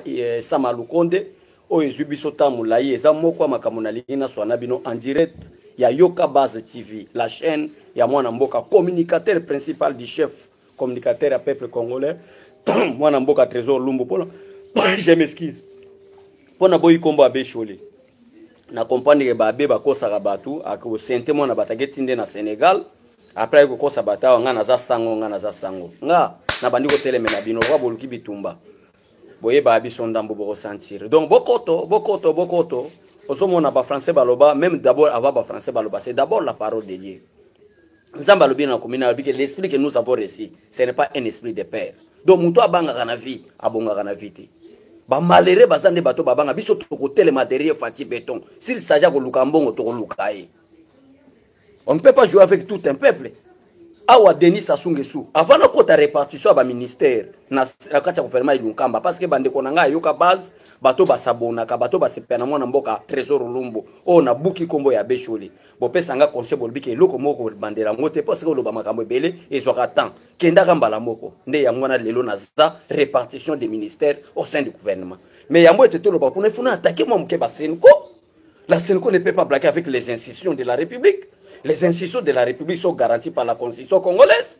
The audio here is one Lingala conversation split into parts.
eh, sama lukonde oyo ezwi biso ntango molai eza moko ya makambo nalingi naswana bino en direct ya yoka base tv la chaîne ya mwana mboka communicateur principal du chef communicateur ya peuple congolais mwana mboka trésor lumbu mpona je m'excuse mpona boyi nkombo ya beshole na comprendre ke babe bakosaka bato akosente mwana bato aketi nde na sénégal après aye kokosa bato awa ngai naza sango ngai naza sango nga nabandi kotelemela bino lokola boluki bitumba boyebaa biso ndambo bokosentire donc bokoto bokoto bokoto ozomona bafrançais baloba même d'abord avant bafrançais baloba c'est d'abord la parole de dieu nzambe alobi na komi na bike l'esprit que nous avons reçu ce n'est pas un esprit de père donc moto abangaka na vie abongaka na vie te bamalere baza nde bato babanga biso tokotelema derrière fati beton s'il s'agit ya koluka mbongo tokoluka ye on ne peut pas jouer avec tout un peuple awa denis sassou nguesso avant nakota répartition ya baministère na kati ya gouvernement ya lunkamba parce que bandeko na ngai ayoka base bato basabonaka bato basepela na mwana mboka trésor lumbu oyo nabuki nkombo ya beshole bopesa nga conseil bolobi ke eloko moko bandela yango te mpo sika oloba makambo ebele ezwaka temps kendaka mbala moko nde yango wana lelo naza répartition des ministères au sein du gouvernement mais yango ete toloba kuna ifo na atake mwa moke basenko la senko ne peut pas blaquer avec les institutions de la république les institutions de la république sont garanties par la constitution congolaise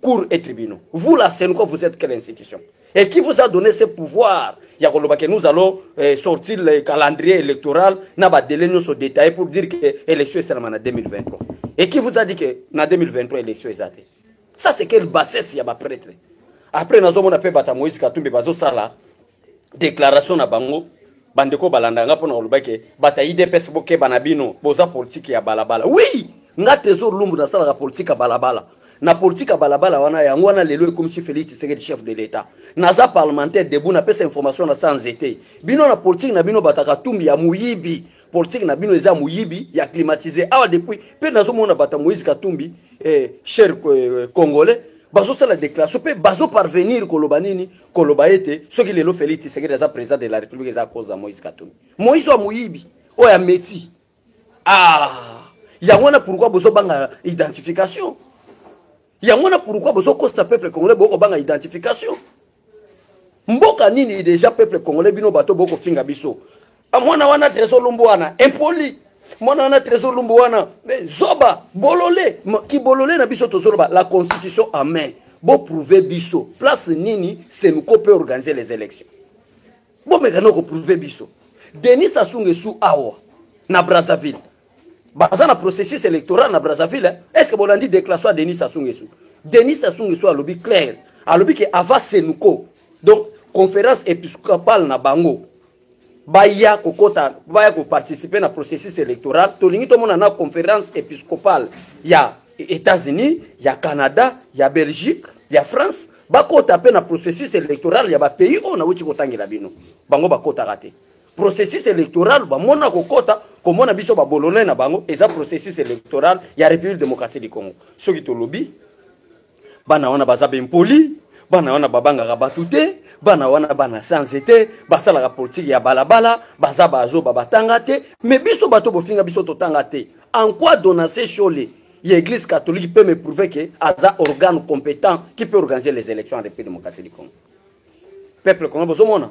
cours et tribunaux vous la senco vous êtes quelle institution et qui vous a donné ce pouvoir ya koloba ke nous allons eh, sortir le calendrier électoral na badele nyonso détaillé pour dire que élection esalama na 2023 et qui vous a dit que na 2023 élection eza te ça c'est quelle bassesse ya baprêtre après nazomona mpe bata moïse katumbi bazosala declaration na bango bandeko balanda nga mpona koloba ke bato ya idps bokeba na bino boza politike ya balabala wi nga trésor lumbu nasalaka politike ya balabala na politike ya balabala wana yango wana lelo ekomisi félix tshisekedi chef de l'état naza parlementaire debu napesa information na sans ete bino na politike na bino bato ya katumbi ya moyibi politike na bino eza moyibi ya climatise awa depuis mpe nazomona bato ya moïse katumbi eh, cher eh, congolais bazosala déclaration mpe bazoparvenir koloba nini koloba ete soki lelo Felix Tshisekedi aza president de la République eza cause ya Moïse Katumbi Moïse wa moyibi oyo ya meti ah yango wana pourquoi bozo banga identification yango wana pourquoi bozo kosta peuple congolais boko banga identification mboka nini deja peuple congolais bino bato boko finga biso Ah, mwana wana trésor lumbu wana impoli mwana wana trésor lumbu wana zoba bolole kibolole na biso tozoloba la constitution en main boprouve biso place nini senco mpe organise les élections bomeka na koprouve biso denis sassou ngesu awa na brazzaville baza na processus électoral na brazzaville hein? est ce que bolandi déclaration ya denis sassou ngesu denis sassou ngesu alobi claire alobi ke ava senco donc conférence épiscopale na bango baya kokota baya koparticipe na processus électoral tolingi tomona na conférence épiscopale ya états-unis ya canada ya belgique ya france bakota mpe na processus électoral ya bapays oyo nauti kotangela bino bango bakotaka te processus électoral bamona kokota komona biso babolone na bango eza processus électoral ya république démocratie du congo soki tolobi bana wana baza bempoli bana wana babangaka bato te bana wana bana sanze te basalaka politiki ya balabala baza bazoba batanga te me biso bato bofinga biso totanga te en quoi donase shole ya église catholique peut me prouver que aza organe compétent qui peut organiser les élections en république démocratique du congo peuple congo bozomona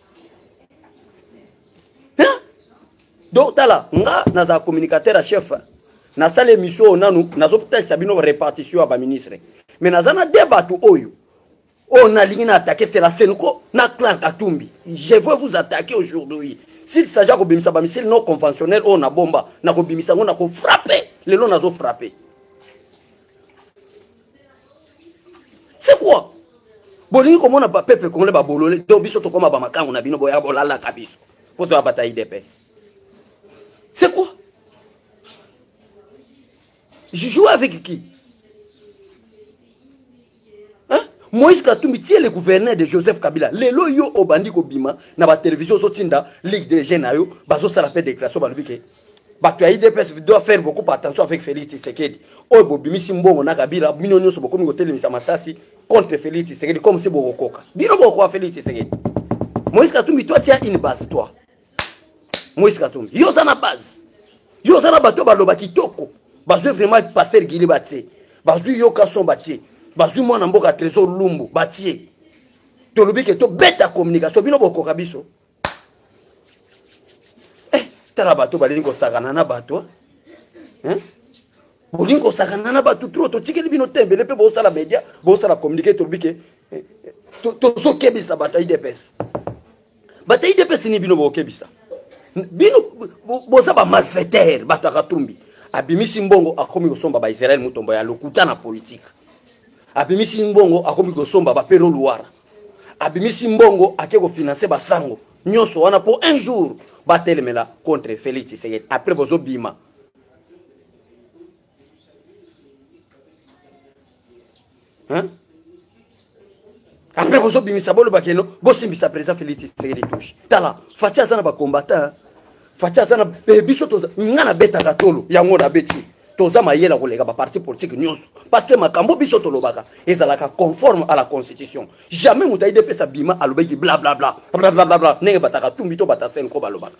donc tala nga nazala communicateur ya chef nasala émission oyo nanu nazotalisa bino répartition ya baministre mais naza na de bato oyo oyo nalingi na atake sela senko na clan katumbi je veux vous attaquer aujourd'hui s'il s'agit ya kobimisa bamisile non conventionnel oyo na bomba nakobimisa yango nakofrappe lelo nazofrappe c'est quoi bolingi komona bapeuple congolais babolole to biso tokoma bamakango na bino boya bolalaka biso mpo toya bata idps c'est quoi je joue avec qui hein? moïse katumbi tie le gouverneur de joseph kabila lelo yo obandi kobima na batelevizio ozotinda ligue de jeu na yo bazosala mpe déclaration balobi ke bato ya idps doit faire beaucoup par attention avec félix tshisekedi oyo bobimisi mbongo na kabila bino nyonso bokomi kotelemisa masasi contre félix tshisekedi comme si bokokoka bino bokokoka félix tshisekedi moïse katumbi toi tia une base toi moise katumbi yo oza na base yo oza na bato baloba kitoko bazwi vraiment paster gili batie bazwi yoka son batie bazwi mwana mboka trésor lumbu batie tolobi ke tobeta communication bino bokoka biso eh, tala bato balingi kosakana na bato eh? bolingi kosakana na bato tro totikeli bino tembele mpe bosala media bosala communike tolobi ke eh, eh, tozokebisa bato ya idps bata idps ni bino bokebisa bino boza bamalfaitere bato ya katumbi abimisi mbongo akomi kosomba baisraele motombo ya lokuta na politike abimisi mbongo akomi kosomba bapero luwara abimisi mbongo ake kofinanse basango nyonso wana mpo un jour batelemela contre félix tshisekedi après bozobima Hein? après bozobimisa boloba keno bosimbisa président félix tshisekedi touche tala fati aza na bacombatant fati aza na eh, biso nga nabetaka tolo yango nabeti toza mayele ya koleka baparti politike nyonso parce que makambo biso tolobaka ezalaka conforme à la constitution jamais moto aidepesa bima alobaki blablabla blablabla ndenge bataka tumbi to batasenko balobaka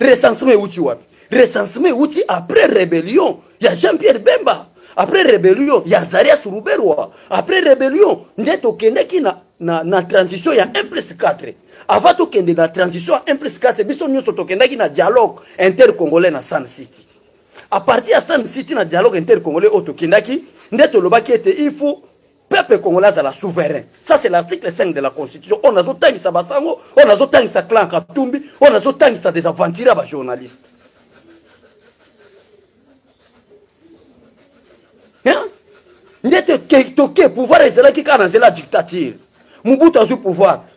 recensement euti wapi recensement euti après rébellion ya jean pierre bemba après rébellion ya zarias ruberwa après rébellion nde tokendaki na, na, na transition ya 1 plus 4 avant tokende na transition ya 1 plus 4 biso nyonso tokendaki na dialogue intercongolais na sun city à partir ya sun city na dialogue intercongolais oyo tokendaki nde tolobaki ete il faut peuple congolais azala souverain ça c'est l'article 5 de la constitution oyo nazotangisa basango oyo nazotangisa clan katumbi oyo nazotangisa des aventurier ya bajournaliste nde toke pouvoir ezalaki kaka na nzela ya dictature mobutu azwi pouvoir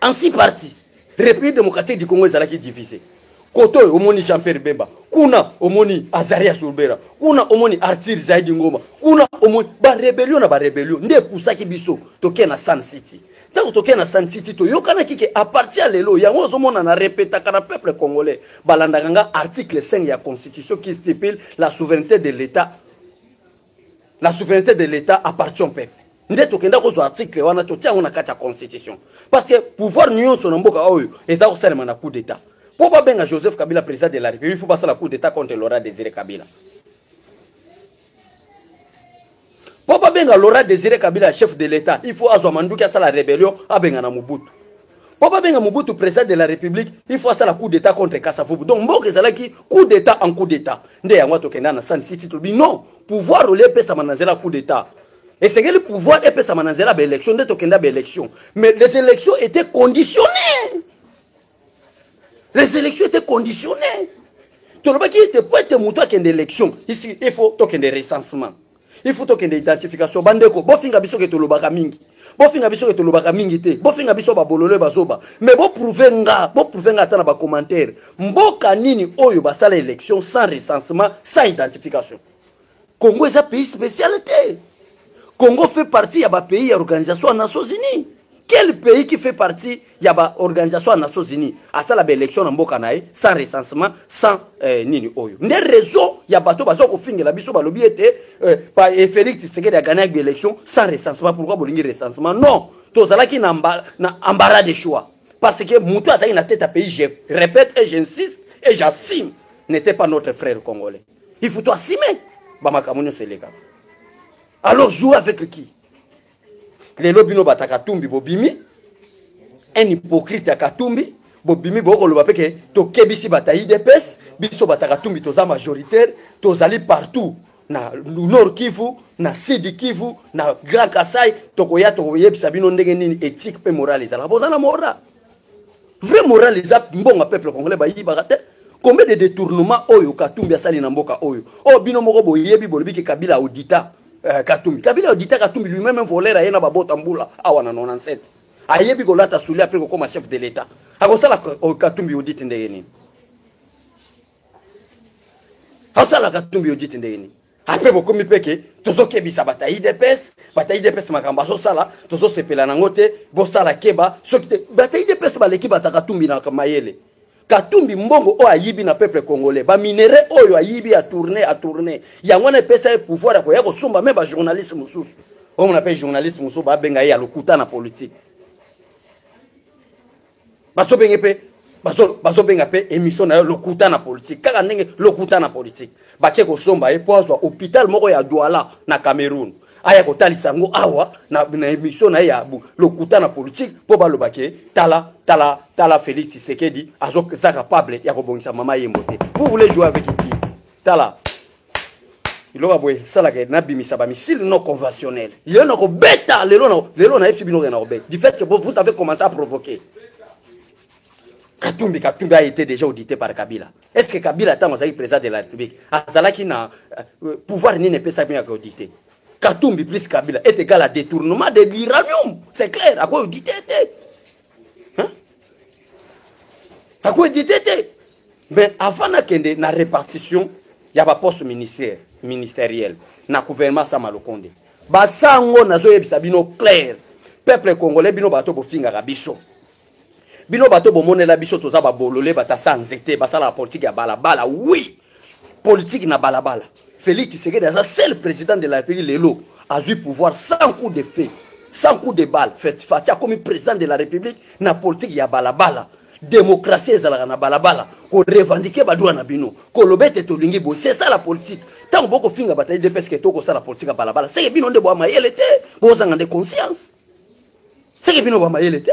en si parti république démocratique du congo ezalaki divise kote oyo omoni jean pierre bemba kuna omoni azaria surbera kuna omoni artir zaidi ngoma kuna omoni barebelio na barebelio nde epusaki biso tokee na sun city ntango tokei na san city toyokanaki ke aparti ya lelo yango ozomona na repetaka na peuple congolais balandaka nga article 5 ya constitution qui stipule la souveraineté de l'état la souveraineté de l'état appartient au peuple nde tokenda kozwa article wana totia yango na kati ya constitution parce que pouvoir nyonso na mboka oyo eza kosalema na coup d'état mpo babenga joseph kabila président de la république fo basala coup d'état contre laura désiré kabila mpo babenga laura désiré kabila chef de l'état il faut azwa manduki asala rébellion abengana mobutu mpo babenga mobutu président de la république il faut asala coup d'état contre kasavubu donc mboka ezalaki coup d'état en coup d'état nde yango atokenda na san city tolobi non pouvoir olie epesama na nzela coup d'état esengeli pouvoir epesama na nzela baélection nde tokenda baélection mais les élections étaient conditionnées les élections étaient conditionnées tolobaki ete po ete moto akende élection il faut tokende recensement il faut tokende identification bandeko bofinga biso ke tolobaka mingi bofinga biso ke tolobaka mingi te bofinga biso babolole bazoba mais boprouve nga boprouve nga ata na bacommentaire mboka nini oyo basala élection sans recensement sans identification congo eza pays spécial te congo fait partie ya bapays ya organisation ya nations unis quel pays qui fait partie ya ba organisation ya nations unis asala ba élection na mboka na ye sans recensement sans eh, nini oyo nde réseau ya bato baza kofingela biso balobi ete eh, pa eh, félix tshisekedi agana yaki baélection sans recensement pourquoi bolingi recensement non tozalaki na, amba, na embarras de choix parce que moto azalaki na tete ya pays je répète et j'insiste et j'assume n'était pas notre frère congolais il faut toassume bamakambo nyonso elekaka alors joue avec qui lelo bino bata katumbi bobimi un hypocrite ya katumbi bobimi bokoloba mpe ke tokebisi bata idps biso bata katumbi toza majoritaire tozali partout na nord kivu na sud kivu na grand kasai tokoya tokoyebisa bino ndenge nini ethique mpe morale ezalaka boza na mora vrai moral eza mbongo peuple congolais bayibaka te combien de détournement oyo katumbi asali na mboka oyo oyo oh, bino moko boyebi bolobi ke kabila audita eh, katumbi kabila audita katumbi lui-même voleur aye na babota mbula awa na 97 ayebi kolata suli apres kokoma chef de l'état akosala katumbi audite ndenge nini asala katumbi audite ndenge nini apres bokomi mpe ke tozokebisa bata idps bata idps makambo azosala tozosepela nango te bosala keba soki te bata idps baleki bata katumbi na mayele katumbi mbongo oyo ayibi na peuple congolais baminere oyo ayibi atourne atourne yango wana epesa ye pouvoir ya koya kosomba me bajournaliste mosusu omona mpe journaliste mosusu babenga ye ya lokuta na politike bazobenge mpe bazobenga mpe émission na yo lokuta na politique kaka ndenge lokuta na politique bake kosomba ye mpo azwa hôpital moko ya douala na cameroun aya kotalisa yango awa na, na émission na ye ya lokuta na politique mpo baloba ke tala tala tala félix tshisekedi aza capable ya kobongisa mama yembo te vous voulez jouer avec qui tala biloko ya boye esalaka nabimisa bamisile non conventionnel lelo nakobeta lelo lelo nayebisi bino ke nakobeta du fait que vous avez commencé à provoquer katumbi katumbi a été déjà audité par kabila est ce que kabila ntango azalaki président de la république azalaki na euh, pouvoir nini epesaki miyaka audité katumbi plus kabila est égal à détournement de l'uranium c'est clair akoaudité te akoaudité te mais avant nakende na répartition ya baposte ministère ministériel na gouvernement sama lokonde basango nazoyebisa bino claire peuple congolais bino bato bofingaka biso bino bato bomonela biso toza babolole batasa nzete basalaka politike ya balabala wi politike na balabala Felix Tshisekedi aza seul président de la République lelo azui pouvoir sans coup de feu, sans coup de balle. Fatshi akomi président de la République na politique ya balabala. Démocratie ezalaka na balabala, ko revendiquer ba droits na bino, ko loba ete tolingi boye, c'est ça la politique. Tango boko finga bata UDPS ke toko sala politique ya balabala, c'est bino nde bwa mayele te, bozanga nde conscience. C'est bino bwa mayele te.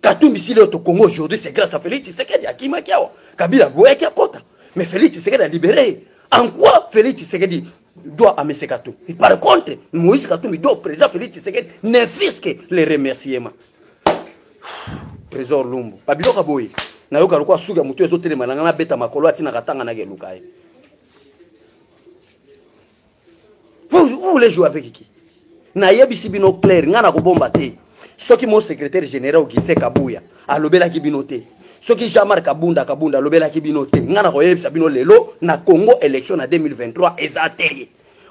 katumbi si leo tokongo aujourd'hui c'est grâce à félix tshisekedi akimaki awa kabila aboyaki akota mais félix tshisekedi alibere ye en quoi félix tshisekedi doit à M. Katumbi. Et par contre, Moïse Katumbi doit au président Félix Tshisekedi ne fils que les remerciements. Trésor Lumbu. Babilo Kaboye. nayoka lokola suki ya motu ezotelema na ngai nabeta makolo atinaka tanga nake eluka ye vous, vous voulez jouer avec qui nayebisi bino claire ngai nakobomba te soki mo secrétaire général augustin kabuya alobelaki bino te soki jean marc kabunda kabunda alobelaki bino te ngai nakoyebisa bino lelo na congo élection na 2023 eza te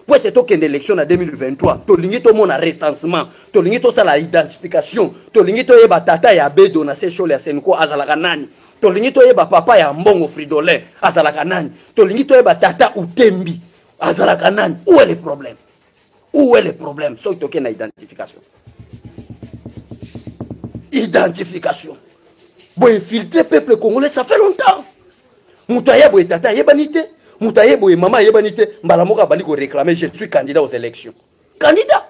mpo ete tokende élection na 2023 tolingi tomona recensement tolingi tosala identification tolingi toyeba tata ya bedo na sechole ya senko azalaka nani tolingi toyeba papa ya mbongo fridolin azalaka nani tolingi toyeba tata utembi azalaka nani où est le problème où est le problème soki tokei na identification identification boinfiltre peuple congolais ça fait longtemps moto aye boye tata ayebani te moto aye boye mama ayebani te mbala moko abandi koréclame je suis candidat aux élections candidat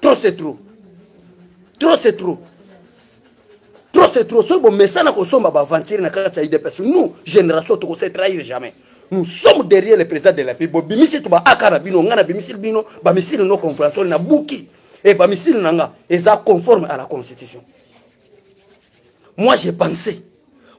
trop c'est trop trop c'est trop trop c'est trop soki bomesana kosomba baaventure na kati ya idps nous génération tokose trahir jamais nous sommes derrière le président de la pays bobimisi to baaka na bino ngai nabimisi bino bamisili no compréhension na buki e bamisili na nga eza conforme à la constitution moi j'ai pensé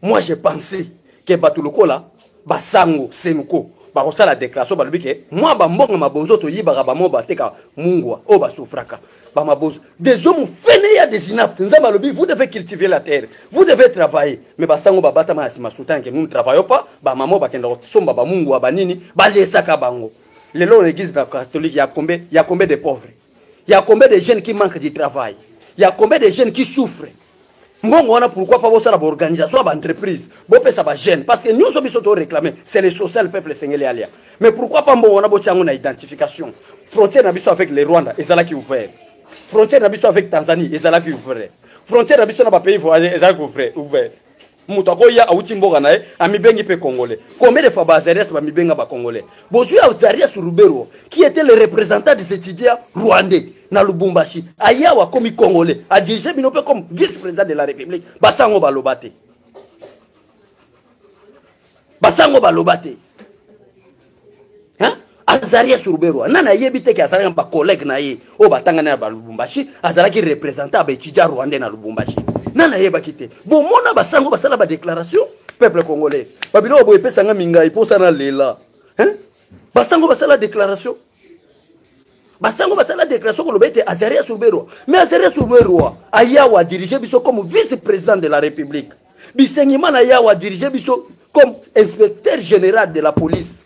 moi je pensais ke bato lokola basango senko bakosala déclaration balobi ke mwa bambongo mabonzo toyibaka bamo bateka mungwa oyo basufraka bamabonzo des hommes fene ya des inapte nzambe alobi vous devez cultiver la terre vous devez travailler mais basango babatama na nsima sultan ke nous ne travaillons pas bamamo bakenda kosomba bamungwa banini balesaka bango lelo na église na catholique ya combien ya combien de pauvres Il y a combien de jeunes qui manquent du travail Il y a combien de jeunes qui souffrent mbongo wana pourquoi pas bosala baorganisation ya baentreprise bopesa bajeune parce que nyonso biso toréclame c'est le social peuple esengeli alia mais pourquoi pas mbongo wana botya yango na identification frontière na biso avec le rwanda ezalaki ouvert frontière na biso avec tanzanie ezalaki ouvert frontière na biso na bapays voisin ezalaki ouvert moto akoya awuti mboka na ye amibengi mpe congolais combien de fois bazarias bamibenga bacongolais bozwi azarias rubero qui était le représentant des étudiants rwandais na lubumbashi ayawa akomi congolais adirige bino mpe comme vice président de la république basango baloba te basango baloba te azali ya suruberwa nani ayebi te ke azalaki na bacollègue na ye oyo batangani na balubumbashi azalaki représentant ya baetudia rwandais na lubumbashi nani ayebaki te bomona basango basala badéclaration peuple congolais babiloko boye epesanga mingai mposa na lela basango basala déclaration basango basala déclaration koloba ete azarias ruberwa mais azarias ruberwa ayawa adirige biso comme vice président de la république bisengimana ayawa adirige biso comme inspecteur général de la police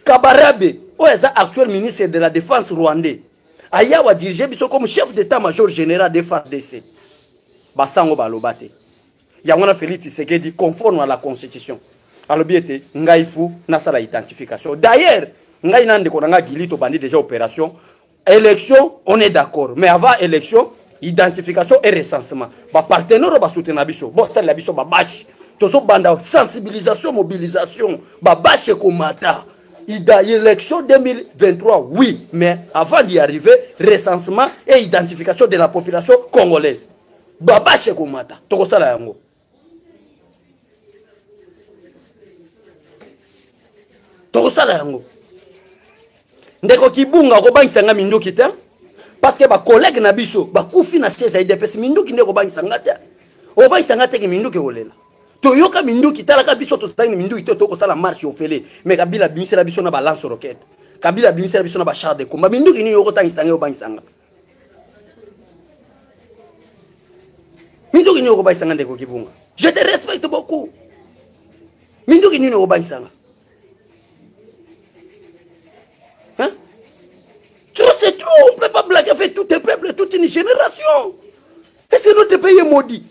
kabarabe oyo aza actuel ministre de la défense rwandais ayawa adirige biso comme chef d'état major général de fardc basango baloba te yango wana felix tshisekedi conforme à la constitution alobi ete ngai fu nasala identification d'ailleurs ngai na ndeko na ngai gili tobandi déjà opération élection on est d'accord mais avant élection identification et recensement bapartenaire oyo basutena biso bosalela biso babashe tozobanda sensibilisation mobilisation babashe ekomata élection 2023 oui mais avant d'y arriver recensement et identification de la population congolaise babashe komata tokosala yango tokosala yango ndeko kibunga okobangisa nga minduki te parceke bakolege na biso bakufi na siège ya idps minduki nde okobangisa nga te obangisa nga teke minduki ekolela toyoka minduki talaka biso tozangi minduki te tokosala marche ofele me kabila abimisela biso na balance roquete kabila abimisela biso na bachar de combat minduki nini okotangisa nga obangisa nga minduki nini okobakisa nga ndeko kibunga je te respecte beaucoup minduki nini okobakisa nga trop c'est trop on peut pas blaguer avec tout un peuple toute une génération est-ce que notre pays est maudit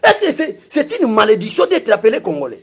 est-ce que c'est une malédiction d'être appelé congolais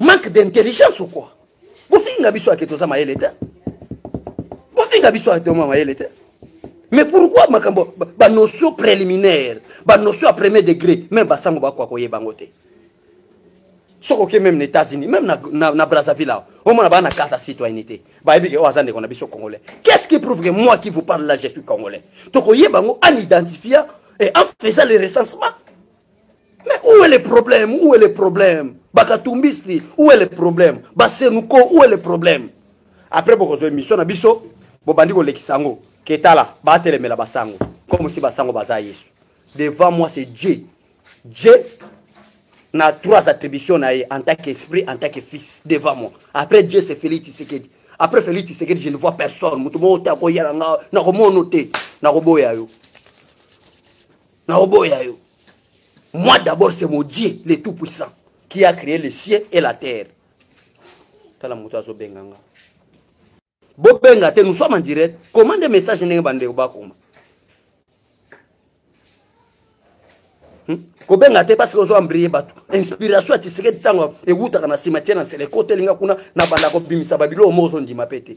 manque d'intelligence ou quoi bofinga biso ake toza mayele te bofinga biso ake toma mayele te mais pourquoi makambo banotion préliminaire banotion ya premier degré meme basango bakoka koyeba yango te soki oke meme na états-unis meme na, na, na brazzaville awa omona baa na carte ya citoyenneté bayebi ke oyo aza ndeko na biso congolais qu'est ce qui prouve que moi qui vous parle là je suis congolais tokoyeba yango en identifia et en faisant le recensement Mais où est le problème Où est le problème Bakatumbisli, où est le problème Basenuko, où est le problème Après, boko zo émission na biso, bobandi ko lekisango. Ketala, batelemela basango. Comme si basango baza Yesu. Devant moi, c'est Dieu. Dieu na trois attributions na ye en tant qu'esprit, en tant que fils, devant moi. Après Dieu, c'est Félix Tshisekedi. Après Félix Tshisekedi, je ne vois personne. Mutu moko te akoyala nga, nakomono te, nakoboya yo. na oboya yo moi d'abord c'est mon dieu le tout puissant qui a créé le ciel et la terre tala moto azobenga nga bobenga te nous sommes en direct comment nde message ndenge bandeko bakoma hmm? kobenga te parce que ozo embrie bato inspiration ya tisekedi ntango ewutaka na nsima tie na nsele ekotelinga kuna na banda kobimisa babiloko moko ozondima mpe te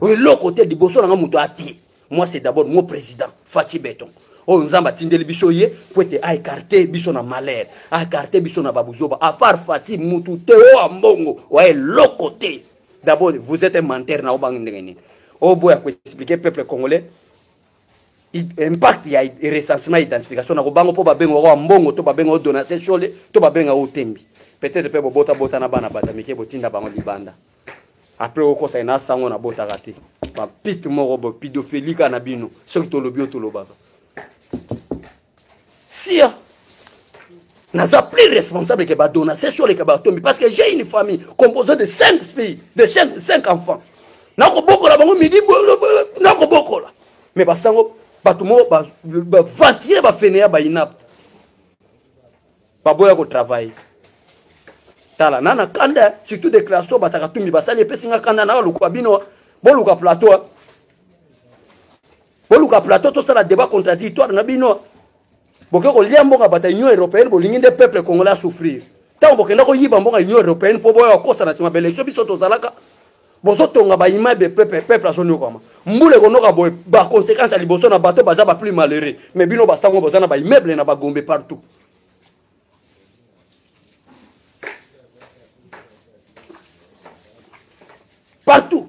oyo eloko te liboso na nga moto atie moi c'est d'abord mo président faci beton oyo oh, nzambe atindeli biso ye mpo ete aekarte biso na malheur aekarte biso na babuzoba apart faci mutu te oyo oh, mbongo oya eloko te d'abord vous êtes un menteur na obangi ndenge nini oyo oh, boya koexplike peuple congolais impact ya recensement identification nakobango mpo babenga oyo mbongo to babenga oyo donation shole to babenga oyo tembi peut-être mpe bobotabota na bana bato ya mike botinda bango libanda après okosa ye na sango na botaka te bapite moko bo pidofeli kaka na bino soki tolobi oyo tolobaka sia naza plus responsable ke badona se sure ke batombi parce que j'ai une famille composée de cinq filles de cinq, cinq enfants nakobokola bango midi nakobokola mais basango bato moko baventire bafeneya bainapte baboya ko travailler tala na na kanda surtout déclaration bataka tumbi basali epesi nga kanda na lokola bino boluka plateau boluka plateau tosala débat contradictoire na bino boke kolia mbongo bata union européenne bolingi nde peuple congolais asouffrir ntango bokenda koyiba mbongo ya union européenne mpo boya kokosa na nsima baelektio biso tozalaka bozotonga baimmeuble peuple peuple azonyokwama mbula ekonoka boye baconséquence ya liboso na bato baza ba plus malheureux mais bino basango boza na baimmeuble na bagombe partout partout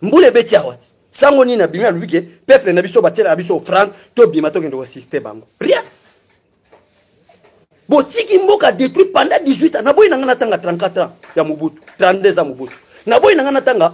mbula ebeti awa sango nini abimi alobi ke peuple na biso batielaka biso offrande tobima tokende kosiste bango rien botiki mboka détruit pendant 18 ans naboyi na ngai natanga 34 ans ya mobutu 32 ans mobutu naboyi na ngai natanga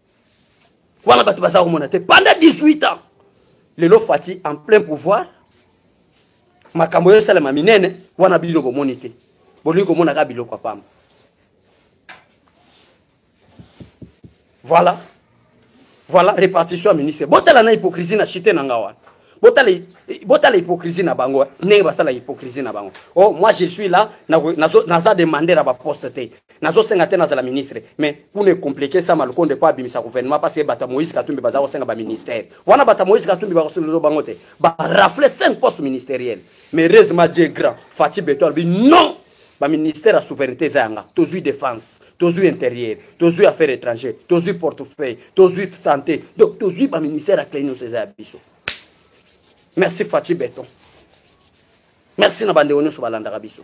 wana bato baza komona te pendant 18 ans lelo fati en plein pouvoir makambo oyo esalema minene wana bino bomoni te bolingi komona kaka biloko ya pamba voilà voilà répartition ya ministre botala na hypocrisie na chite na nga wana botala botala hypocrisie na bango ndenge basala hypocrisie na bango oh moi je suis là naza demande na baposte te nazosenga te nazala ministre mais kuna ecomplike sama lukonde mpo abimisa gouvernement parce que bato ya moïse katumbi baza kosenga baministère wana bato ya moïse katumbi bakosololo bango te barafle 5 poste ministériel mais heureusement dieu grand fati beto alobi non baministère ya souveraineté eza yanga tozwi défense tozwi intérieur tozwi affaire étranger tozwi portefeuille tozwi santé donc tozwi baministère ya clé nyonso eza ya biso merci faci beton merci na bandeko nyonso balandaka biso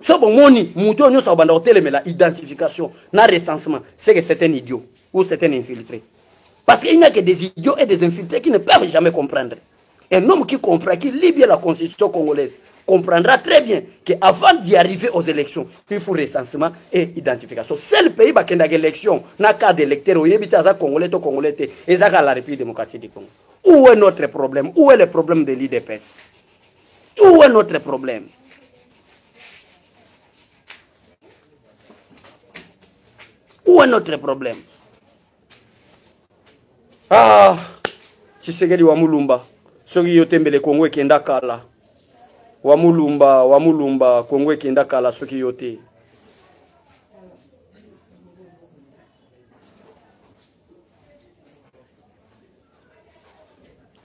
so bomoni moto oyo nyonso akobanda kotelemela identification na recensement c'est que c'est un idiot ou c'est un infiltré parce qu'il n'y a que des idiots et des infiltrés qui ne peuvent jamais comprendre un homme qui comprend qui lit bien la constitution congolaise comprendra très bien que avant d'y arriver aux élections il faut recensement et identification seul pays bakendaka élection na cas d'électeur oyebi te aza congolais to congolais te ezaka la république démocratique du congo où est notre problème où est le problème de l'idps où est notre problème où est notre problème ah tshisekedi wa mulumba soki yo tembele kongo ekenda kala wa mulumba wa mulumba kongo ekenda kala soki yo te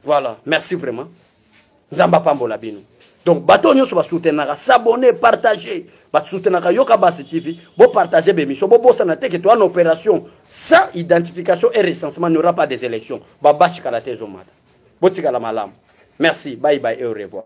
voilà merci vraiment nzambe apambola bino donc bato oyo nyonso basoutenaka s'abonne partage basoutenaka yoka basi tv bopartage bemission bobosana te ke toa na opération sans identification et recensement n'aura pas des élections babasi kala te ezomata botikala malamu merci bye bye et au revoir